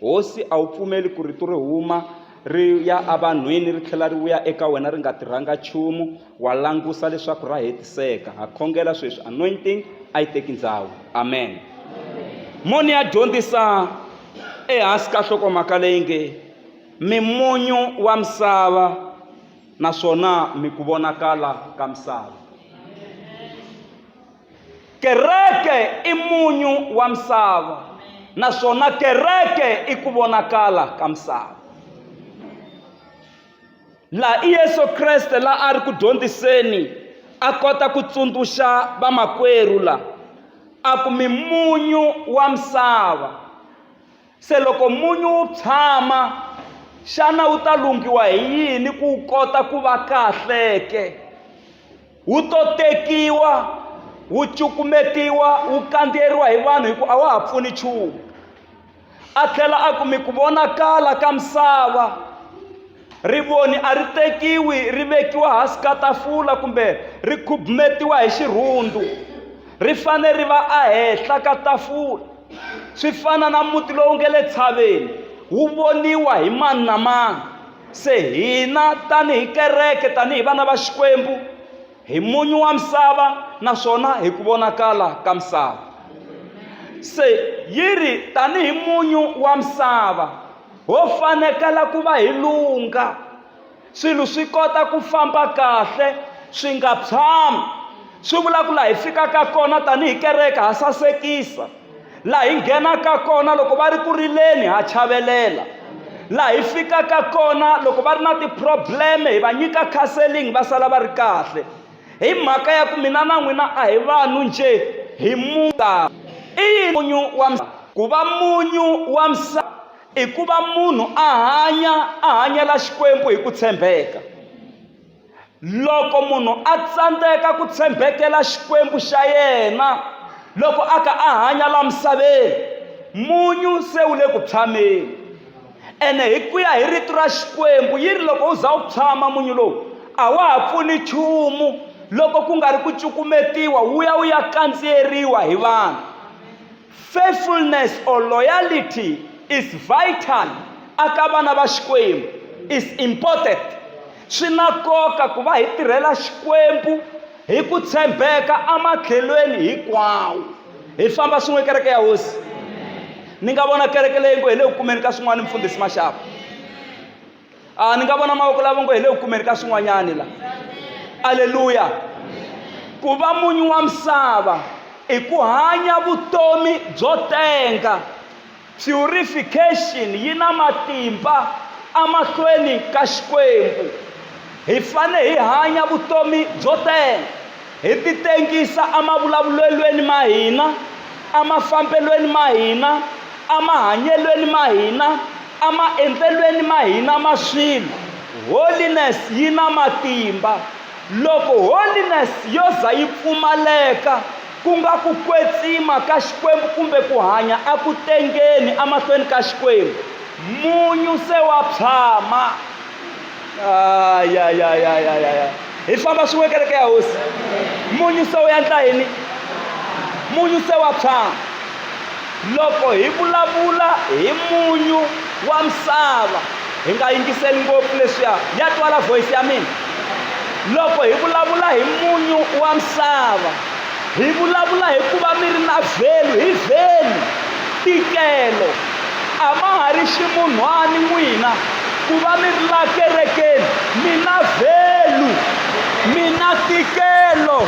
Hosi, a wu pfumeli ku rito ri huma ri ya evanhwini ri tlhela ri vuya eka wena ri nga tirhanga nchumu? Wa langusa leswaku ra hetiseka. Ha khongela sweswi, anointing a yi teki ndhawu. Amen. Moni ya dyondzisa ehansi ka nhlokomhaka leyi nge Mimunyu wa Misava naswona mi ku vonakala ka misava. kereke i munyu wa misava naswona kereke i ku vonakala ka misava laha i yesu kreste la a ri ku dyondziseni a kota ku tsundzuxa vamakwerhu la a ku mimunyu wa misava Se loko munyu wu pshama, xana wu ta lunghiwa hi yini ku wu kota ku va kahle ke? Wu to tekiwa, wu cukumetiwa, wu kandziyeriwa hi vanhu hi ku a wa ha pfuni nchumu. A tlhela a ku mi ku vonakala ka misava. Rivoni a ri tekiwi ri vekiwa hansi ka tafula kumbe ri khubumetiwa hi xirhundu ri fanele ri va ehenhla ka tafula swi fana na muti lowu nge le tshaveni wu voniwa hi mani na mani se hina tanihi kereke tanihi vana va xikwembu hi munyu wa misava naswona hi ku vonakala ka misava se yi ri tanihi munyu wa misava ho fanekela ku va hi lungha swilo swi kota ku famba kahle swi nga tshami swi vula ku laha hi fikaka kona tanihi kereke ha sasekisa laha hi nghenaka kona loko va ri ku rileni ha chavelela laha hi fikaka kona loko va ri na ti-problem-e hi va nyika counseling va sala va ri kahle hi mhaka ya ku mina na n'wina a hi vanhu njhe hi muka i yini munyu wa ku va munyu wa misava i ku va munhu a hanya a hanyela xikwembu hi ku tshembeka loko munhu a tsandzeka ku tshembekela xikwembu xa yena loko a ka a hanya la misaveni munyu se wu le ku tshameni Ene hi ku ya hi Rito ra Xikwembu, yi ri, Loko u za u phyama munyu lowu, a wa ha pfuni nchumu loko ku nga ri ku cukumetiwa wu ya wu ya kandziyeriwa hi vanhu. Faithfulness or loyalty is vital aka vana va Xikwembu, is important. Swi na nkoka ku va hi tirhela Xikwembu hi ku tshembeka ematlhelweni hinkwawo hi famba swin'we kereke ya hosi ni nga vona kereke leyi ngo hi le ku kumeni ka swin'wana mfundhisi maxapu a ni nga vona mavoko lava ngo hi le ku kumeni ka swin'wanyani la aleluya ku va munyu wa misava i ku hanya vutomi byo tenga Purification yi na matimba emahlweni ka Xikwembu. Hi fane hi hanya vutomi byo tela, hi titengisa emavulavulelweni ma hina, emafambelweni ma hina, emahanyelweni ma hina, emaendlelweni ma hina ma swilo. Holiness yi na matimba. Loko holiness yo za yi pfumaleka, ku nga ku kwetsima ka Xikwembu kumbe ku hanya a ku tengeni amahlweni ka Xikwembu. Munyu se wa pshama. Ayayayayaya. Hi famba swin'we kereke ya hosi. Munyu se wu yandla yini? Munyu se wa pshama. Loko hi vulavula hi munyu wa misava, hi nga yingiseli ngopfu leswiya. Ya twala voice ya mina? Loko hi vulavula hi munyu wa misava, hi vulavula hi ku va mi ri na vhelu hi vhelu tikelo a ma ha ri ximunhwani n'wina ku va mi ri la kerekeni mi na vhelu mi na tikelo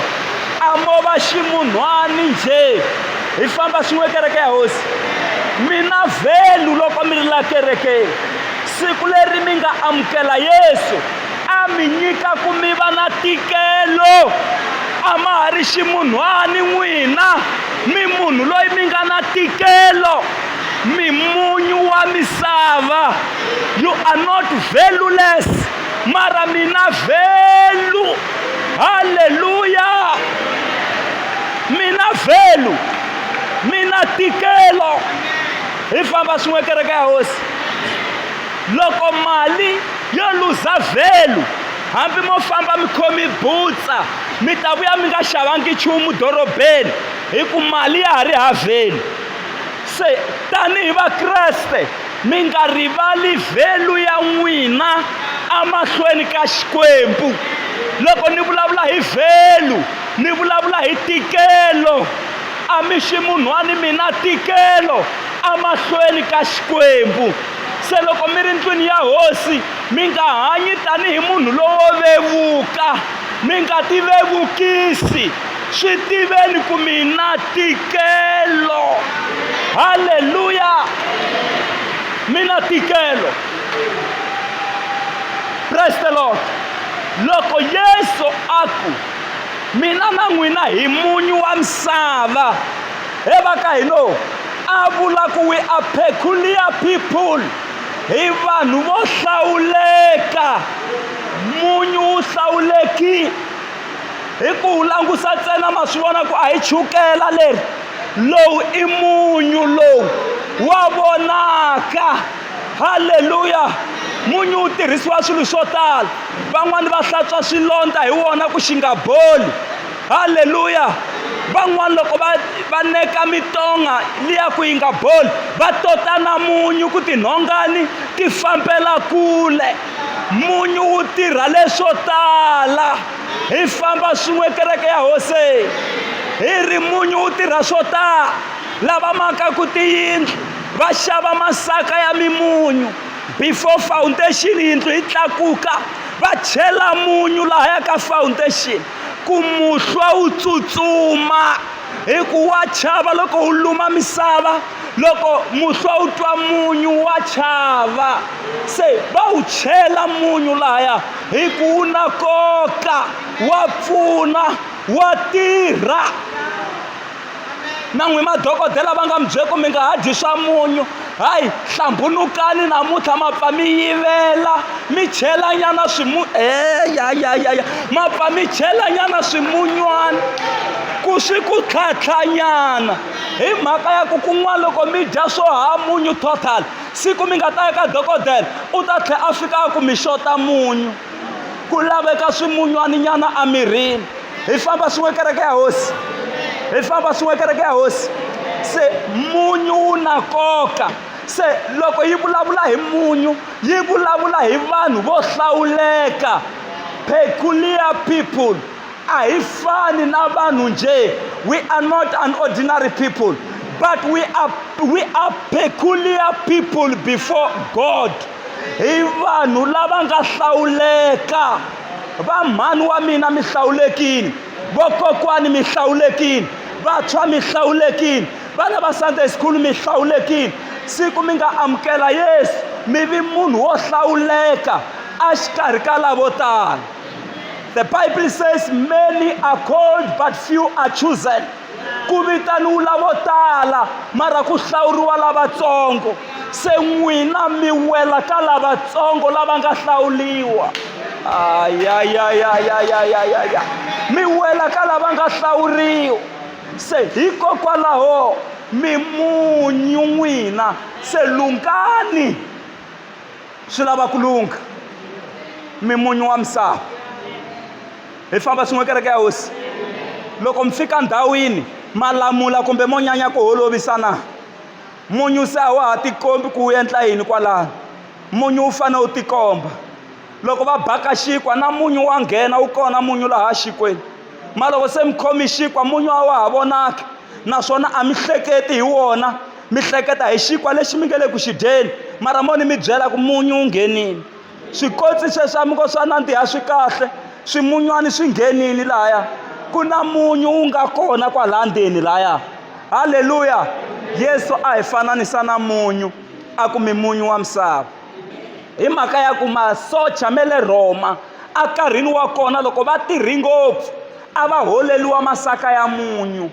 a mo va ximunhwani njhe hi famba swin'we kereke ya hosi mina vhelu loko mi ri la kerekeni siku leri mi nga amukela yesu a mi nyika ku mi va na tikelo a ma ha ri ximunhwani n'wina mi munhu loyi mi nga na tikelo mi munyu wa misava you are not valueless mara mina vhelu halleluya mi na vhelu mi na tikelo hi famba swin'we kereke ya hosi loko mali yo luza vhelu hambi mo famba mi khomi butsa mi ta vuya mi nga xavangi nchumu dorobeni hi ku mali ya ha ri ha vhelu se tanihi vakreste Mi nga rivali vhelu ya n'wina emahlweni ka Xikwembu. Loko ni vulavula hi vhelu, ni vulavula hi tikelo. A mi ximunhwani mina, tikelo emahlweni ka Xikwembu. Se loko mi ri ndlwini ya hosi, mi nga hanyi tanihi munhu lowo vevuka, mi nga tivevukisi. swi tiveni ku mina tikelo halleluya mina tikelo praise the lord loko yesu a ku mina na n'wina hi munyu wa misava he va ka hino a vula ku we are peculiar people hi vanhu vo hlawuleka munyu wu hlawulekile hi ku wu langusa ntsena ma swi vona ku a hi chukela leri lowu i munyu lowu wa vonaka halleluya munyu wu tirhisiwa swilo swo tala van'wani va hlantswa swilondza hi wona ku xi nga boli halleluya van'wani loko va va neka mitonga liya ku yi nga boli va tota na munyu ku tinhongani ti fambela kule munyu wu tirha leswo tala hi famba swin'we kereke ya hose hi ri munyu wu tirha swo tala lava makaku tiyindlu va xava masaka ya mimunyu before foundation yindlu yi tlakuka va chela munyu lahaya ka foundation ku muhlwa wu tsutsuma hi ku wa chava loko wu luma misava loko muhlwa wu twa munyu wa chava se va wu chela munyu lahaya hi ku wu na koka wa pfuna wa tirha na n'wi madokodela va nga mi byele ku mi nga ha dyi swa munyu hayi hlambunukani namuntlha ma pfa mi yivela mi chelanyana swimu eyayayaya eh, ma pfa mi chelanyana swimunywana ku swi ku tlhatlhanyana hi mhaka ya ku kun'wana loko mi dya swo ha munyu total siku mi nga ta ya ka dokodela u ta tlhela a fika a ku mi xota munyu ku laveka swimunywaninyana emirini hi famba swin'we kereke ya hosi hi famba swin'we kereke ya hosi se munyu wu na nkoka se loko yi vulavula hi munyu yi vulavula hi vanhu vo hlawuleka peculiar people a hi fani na vanhu nje we are not an ordinary people but we are, we are peculiar people before god hi vanhu lava nga hlawuleka va mhani wa mina mi hlawulekile vokokwani mi hlawulekile vantshwa mi hlawulekile vana va sunday school mi hlawulekile siku mi nga amukela yesu mi vi munhu wo hlawuleka exikarhi ka lavo tala the bible says many are called but few are chosen ku vitaniwula vo tala mara ku hlawuriwa lavatsongo se n'wina mi wela ka lavatsongo lava nga hlawuliwa ayayayayayayaya mi wela ka lava nga hlawuriwa se hikokwalaho mi munyu n'wina se lungani swi lava ku lungha mi munyu wa misava hi famba swin'we kereke ya hosi loko mi fika ndhawini malamula kumbe mo nyanya ku holovisana munyu se a wa ha tikombi ku wu endla yini kwalano munyu wu fanele wu tikomba loko va baka xinkwa na munyu wa nghena wu kona munyu laha xikwenu ma loko se mi khomi xinkwa munyu a wa ha vonaki naswona a mi hleketi hi wona mi hleketa hi xinkwa lexi mi nge le ku xi dyeni mara mo ni mi byela ku munyu wu nghenile swikotsi sweswamuko swa nandziha swi kahle swimunywani swi nghenini laya ku na munyu wu nga kona kwalaya ndzeni laya halleluya yesu a hi fananisa na munyu a ku mi munyu wa misava hi mhaka ya ku masocha me le rhoma enkarhini wa kona loko va tirhi ngopfu a va holeliwa masaka ya munyu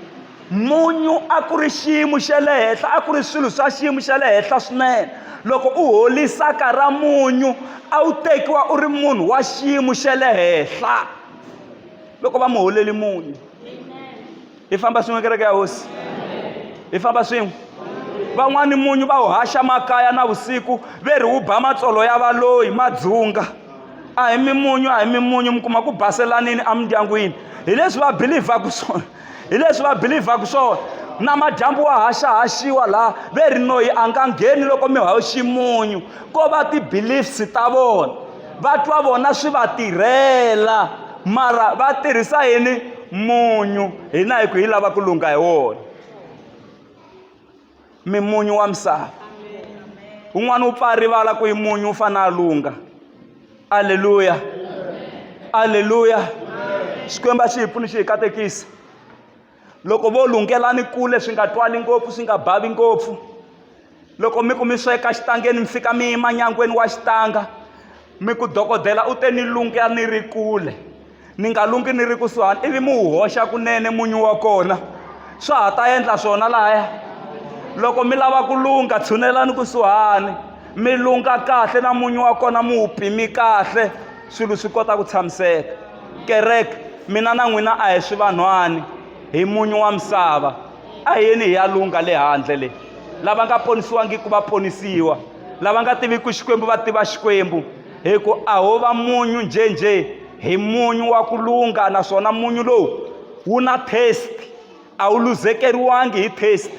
munyu a ku ri xiyimo xa le henhla a ku ri swilo swa xiyimo xa le henhla swinene loko u holisaka ra munyu a wu tekiwa u ri munhu wa xiyimo xa le henhla loko va mu holeli munyu hi famba swin'we kereke ya hosi hi famba swin'we van'wani munyu va wu haxa makaya na vusiku ve ri wu ba matsolo ya valoyi madzunga a hi mimunyu a hi mimunyu mi kuma ku baselanini emindyangwini hi leswi va bilivhaku swona hi leswi va belivhaka swona namadyambu wa haxahaxiwa laha ve ri noyi a nga ngheni loko mi hawu ximunyu ko va ti-beliefs ta vona va twa vona swi va tirhela mara va tirhisa yini munyu hina hi ku hi lava ku lungha hi wona mi munyu wa misava un'wana u pfa a rivala ku yi munyu u fana a lunga aleluya aleluya xikwembu a xi hi pfuni xi hi katekisa loko vo lunghelani kule swi nga twali ngopfu swi nga bavi ngopfu loko mi ku mi sweka xitangeni mi fika mi yima nyangweni wa xitanga mi ku dokodela u te ni lunga ni ri kule ni nga lungi ni ri kusuhani ivi mi wu hoxa kunene munyu wa kona swa ha ta endla swona lahaya loko mi lava ku lungha tshunelani kusuhani mi lungha kahle na munyu wa kona mi wu pimi kahle swilo swi kota ku tshamiseka kereke mina na n'wina a hi swi vanhwani hi munyu wa misava a hi yeni hi ya lungha le handle leyi lava nga ponisiwangiki va ponisiwa lava nga tiviki xikwembu va tiva xikwembu hi ku a ho va munyu njhenjhe hi munyu wa ku lungha naswona munyu lowu wu na taste a wu luzekeriwangi hi taste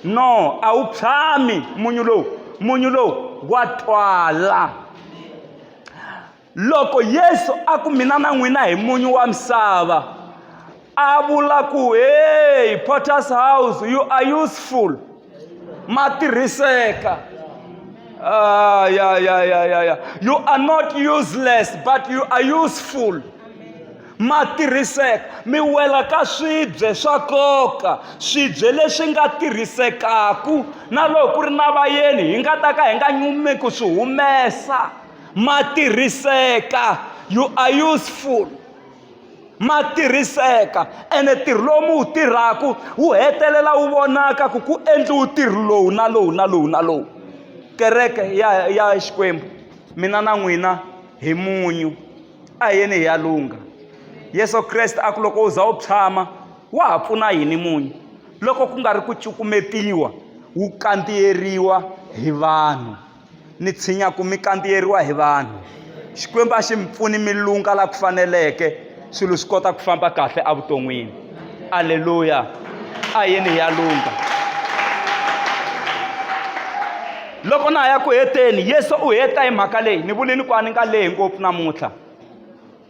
no a wu tshami munyu lowu munyu lowu wa twala loko yesu a ku mina na n'wina hi munyu wa misava a vula ku hey potters house you are useful ma tirhiseka ah, ya ya ya ya ya you are not useless but you are useful ma tirhiseka mi wela ka swibye swa nkoka swibye leswi nga tirhisekaku na loko ku ri na vayeni hi nga ta ka hi nga nyumi ku swi humesa ma tirhiseka you are useful ma tirhiseka ene ntirho lowu mi wu tirhaka wu hetelela wu vonaka ku ku endliwe ntirho lowu na lowu na lowu na lowu kereke ya ya xikwembu mina na n'wina hi munyu a hi yeni hi ya lungha yesu kreste a ku loko u za u tshama wa ha pfuna yini munyu loko ku nga ri ku cukumetiwa wu kandziyeriwa hi vanhu ni tshinya ku mi kandziyeriwa hi vanhu xikwembu a xi mi pfuni mi lunga laha ku faneleke swilo swi kota ku famba kahle evuton'wini aleluya a yini hi ya lunga loko na ha ya ku heteni yesu u heta hi mhaka leyi ni vulini ku a ni nga lehi ngopfu namuntlha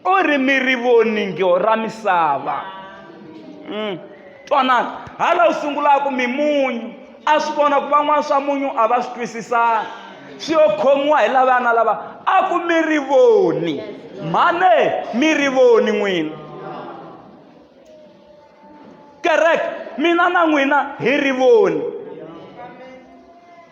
o ri mi ri voni ngyo ra misava mm. twanani hala u sungulaka mimunyu a swi vona ku van'wana swa munyu a va swi twisisana swi yo khomiwa hi lavaya na lava a ku mi ri voni mhane mi ri voni n'wina kereke mina na n'wina hi ri voni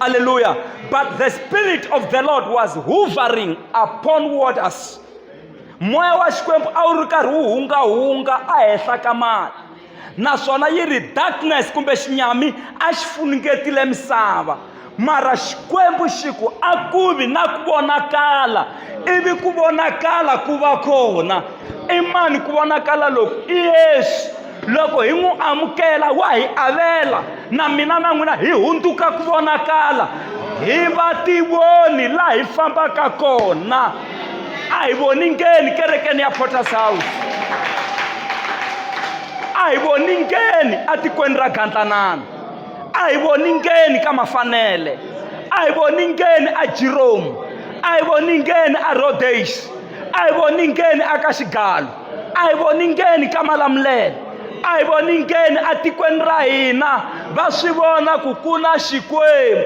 Hallelujah. But the Spirit of the Lord was hovering upon waters. moya wa xikwembu a wu ri karhi wu hungahunga ehenhla ka mali naswona yi ri darkness kumbe xinyami a xi funungetile misava mara xikwembu xi ku a ku vi na ku vonakala ivi ku vonakala ku va kona i mani ku vonakala loku i yesu loko hi n'wi amukela wa hi avela na mina na n'wina hi hundzuka ku vonakala hi va tivoni laha hi fambaka kona a hi voni ngeni kerekeni ya porters house a hi voni ngeni etikweni ra gandlanana a hi voni ngeni ka mafanele a hi voni ngeni a jiromu a hi voni ngeni a rhodex a hi voni ngeni a ka xigalo a hi voningeni ka malamulelo a hi voningeni etikweni ra hina va swi vona ku ku na xikwembu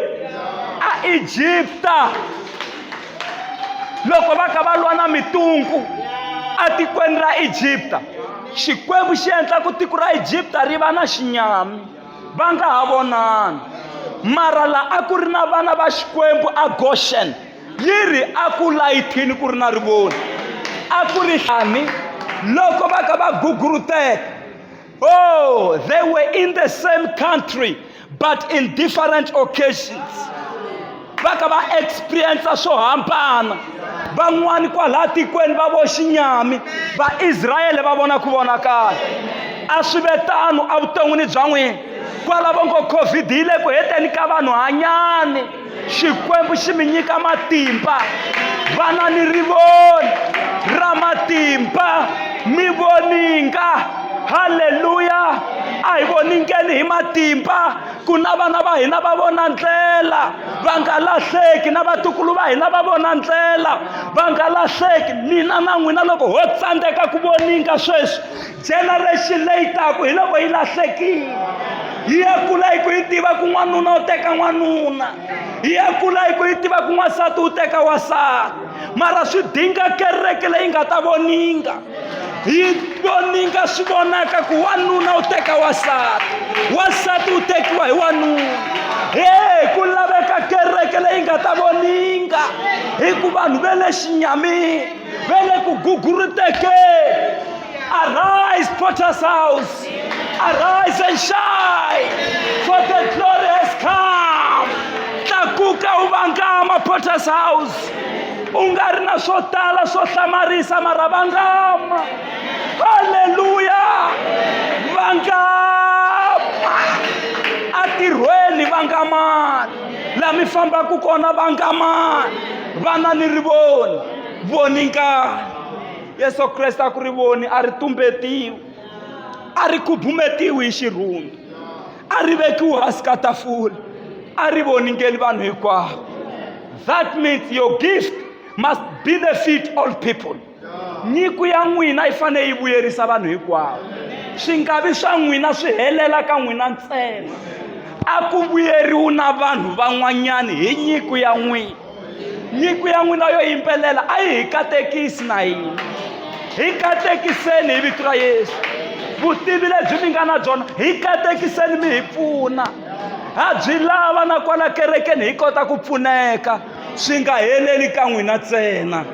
a egipta loko va ka va lwa na mitungu etikweni ra egipta xikwembu xi endla ku tiko ra egipta ri va na xinyami va nga ha vonani mara laha a ku ri na vana va xikwembu a goshen yi ri a ku layithini ku ri na rivoni a ku ri xani loko va ka va guguruteka oh they were in the same country but in different occasions va ka va experiensa swo hambana van'wani kwalaha tikweni va vo xinyami vaisrayele va vona ku vonakala a swi ve tano evuton'wini bya n'wina kwalavo ngo covid yi le ku heteni ka vanhu hanyani xikwembu xi mi nyika matimba vana ni ri vona ra matimba mi voninga halleluya a hi voningeni hi matimba ku na vana va hina va vona ndlela va nga lahleki na vatukulu va hina va vona ndlela va nga lahleki mina na n'wina loko ho tsandzeka ku voninga sweswi generation leyi taku hi loko yi lahlekile yi ya kula hi ku yi tiva ku n'wanuna u teka n'wanuna yi ya kula hi ku yi tiva ku n'wansati u teka wasati mara swi dinga kereke leyi nga ta voninga yi voninga swi vonaka ku wanuna u teka wasati wasati u tekiwa hi wanuna he ku laveka kereke leyi nga ta voninga hi ku vanhu ve le xinyamini va le ku guguruteke Arise, Potter's house. Arise and shine, for the glory has come. Tlakuka u vangama, Potter's house. U nga ri na swo tala swo hlamarisa mara vangama. Haleluya! Vangama! Atirhweni vangamani, laha mi fambaka kona vangamani. vana ni ri voni voni nkani yesu kreste a ku ri voni a ri tumbetiwi a ri khubumetiwi hi xirhundu a ri vekiwi hansi ka tafula a ri voningeli vanhu hinkwavo that means your gift must benefit all people nyiko ya n'wina yi fanele yi vuyerisa vanhu hinkwavo swi nga vi swa n'wina swi helela ka n'wina ntsena a ku vuyeriwi na vanhu van'wanyana hi nyiko ya n'wina nyiko ya n'wina yo yimbelela a yi hi katekisi na yini hi katekiseni hi vito ra yesu vutivi lebyi mi nga na byona hi katekiseni mi hi pfuna ha byi lava na kwala kerekeni hi kota ku pfuneka swi nga heleli ka n'wina ntsena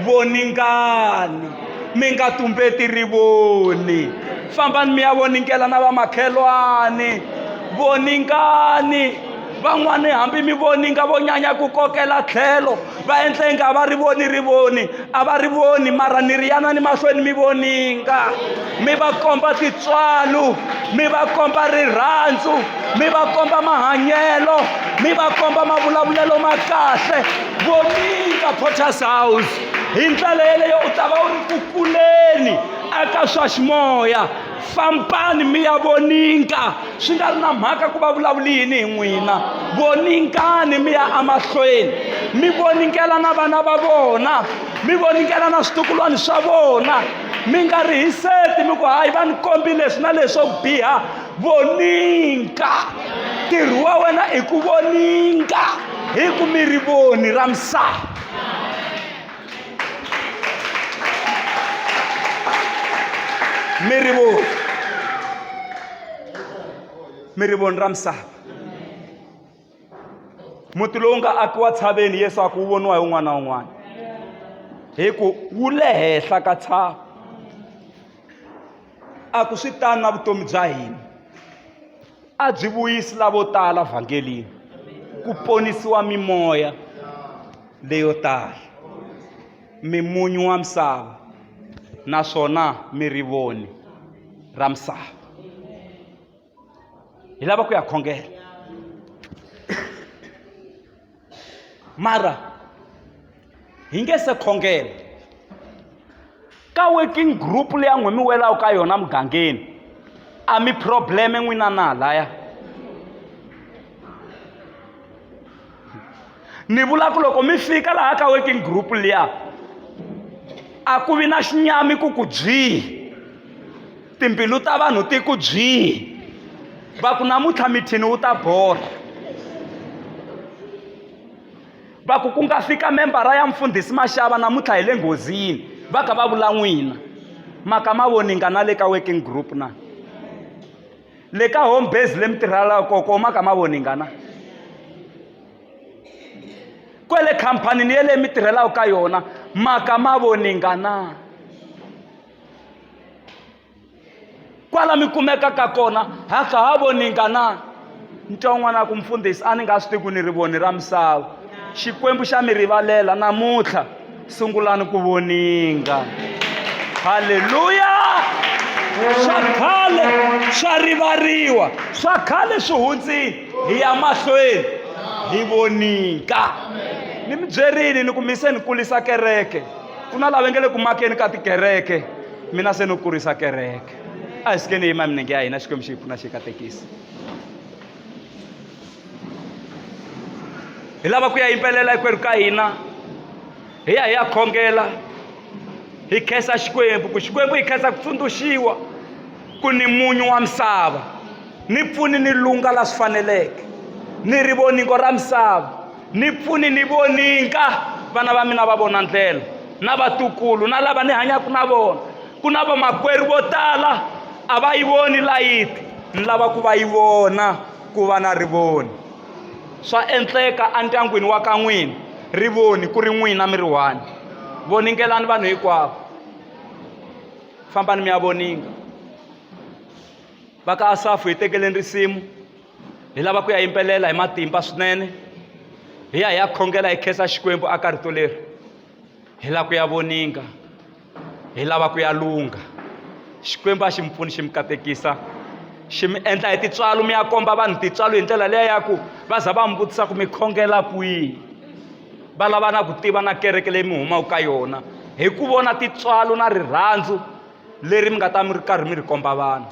voningani mi nga tumbeti rivoni fambani mi ya voningela na vamakhelwani voningani van'wani hambi mi voninga vo nyanya ku kokela tlhelo va endla inga va ri voni ri voni a va ri voni mara ni ri yana ni mahlweni mi voninga mi va komba titswalo mi va komba rirhandzu mi va komba mahanyelo mi va komba mavulavulelo ma kahle voninga porters house hi ndlela yeleyo u ta va u ri ku kuleni eka swa ximoya fambani mi ya voninga swi nga ri na mhaka ku va vulavuli yini hi n'wina voningani mi ya emahlweni mi voningela na vana va vona mi voningela na switukulwana swa vona mi nga ri hiseti mi ku hayi va ni kombi leswi na leswi swo biha voninga ntirho wa wena i ku voninga hi ku mi ri voni ra misava mi rivo mi ri voni ra misava muti lowu nga akiwa tshaveni yesu a ku wu voniwa hi un'wana na un'wana hi ku wu le henhla ka tshava a ku swi tani na vutomi bya hina a byi vuyisi lavo tala vhangelini ku ponisiwa mimoya leyo tala mimunyu wa misava naswona mi ri voni ra misava hi lava ku ya khongela mara hi nge se khongela ka working group leyi a n'wi mi welaka ka yona mugangeni a mi probleme n'wina na laya ni vula ku loko mi fika laha ka working group liya a ku vi na xinyami ku ku byihi timbilu ta vanhu ti ku byihi va ku namuntlha mithini wu ta borha va ku ku nga fika membara ya mfundhisi maxava namuntlha hi le nghozini va kha va vula n'wina maka ma voninga na le ka working group na le ka home base le mi tirhelaka koko maka ma voninga na kwele khampanini yeleyo mi tirhelaka ka yona maka ma voninga na kwala mi kumekaka kona ha kha ha voninga na ntwa un'wana ku mfundhisi a ni nga swi tiku ni ri voni ra misava xikwembu xa mi rivalela namuntlha sungulani ku voninga halleluya swa khale swa rivariwa swa khale swi hundzini hi ya mahlweni hi voninga ni mi byerini ni ku mise ni kulisa kereke ku na lava nge le ku makeni ka tikereke mina se no kurisa kereke a hi sikeni yima minenge ya hina xikwembu xi hi pfuna xi katekisi hi lava ku ya yimbelela hinkwerhu ka hina hi ya hi ya khongela hi khensa xikwembu ku xikwembu hi khensa ku tsundzuxiwa ku ni munyu wa misava ni pfuni ni lunga la swi faneleke ni rivoningo ra misava ni pfuni ni voninga vana va mina va vona ndlela na vatukulu na lava ni hanyaka na vona ku na vamakwerhu vo tala a va yi voni layiti ni lava ku va yi vona ku va na rivoni swa endleka endyangwini wa ka n'wina rivoni ku ri n'wina mi ri one voningelani vanhu hinkwavo fambani mi ya voninga va ka asafu hi tekeleni risimu Hi lava ku ya yimbelela hi matimba swinene hi ya hi ya khongela hi khensa Xikwembu a ka rito leri hi lava ku ya voninga hi lava ku ya lungha Xikwembu a xi mi pfuni xi mi katekisa xi mi endla hi tintswalo mi ya komba vanhu tintswalo hi ndlela leya ya ku va za va mi vutisa ku mi khongela kwihi va lava na ku tiva na kereke leyi mi humaka ka yona hi ku vona tintswalo na rirhandzu leri mi nga ta mi ri karhi mi ri komba vanhu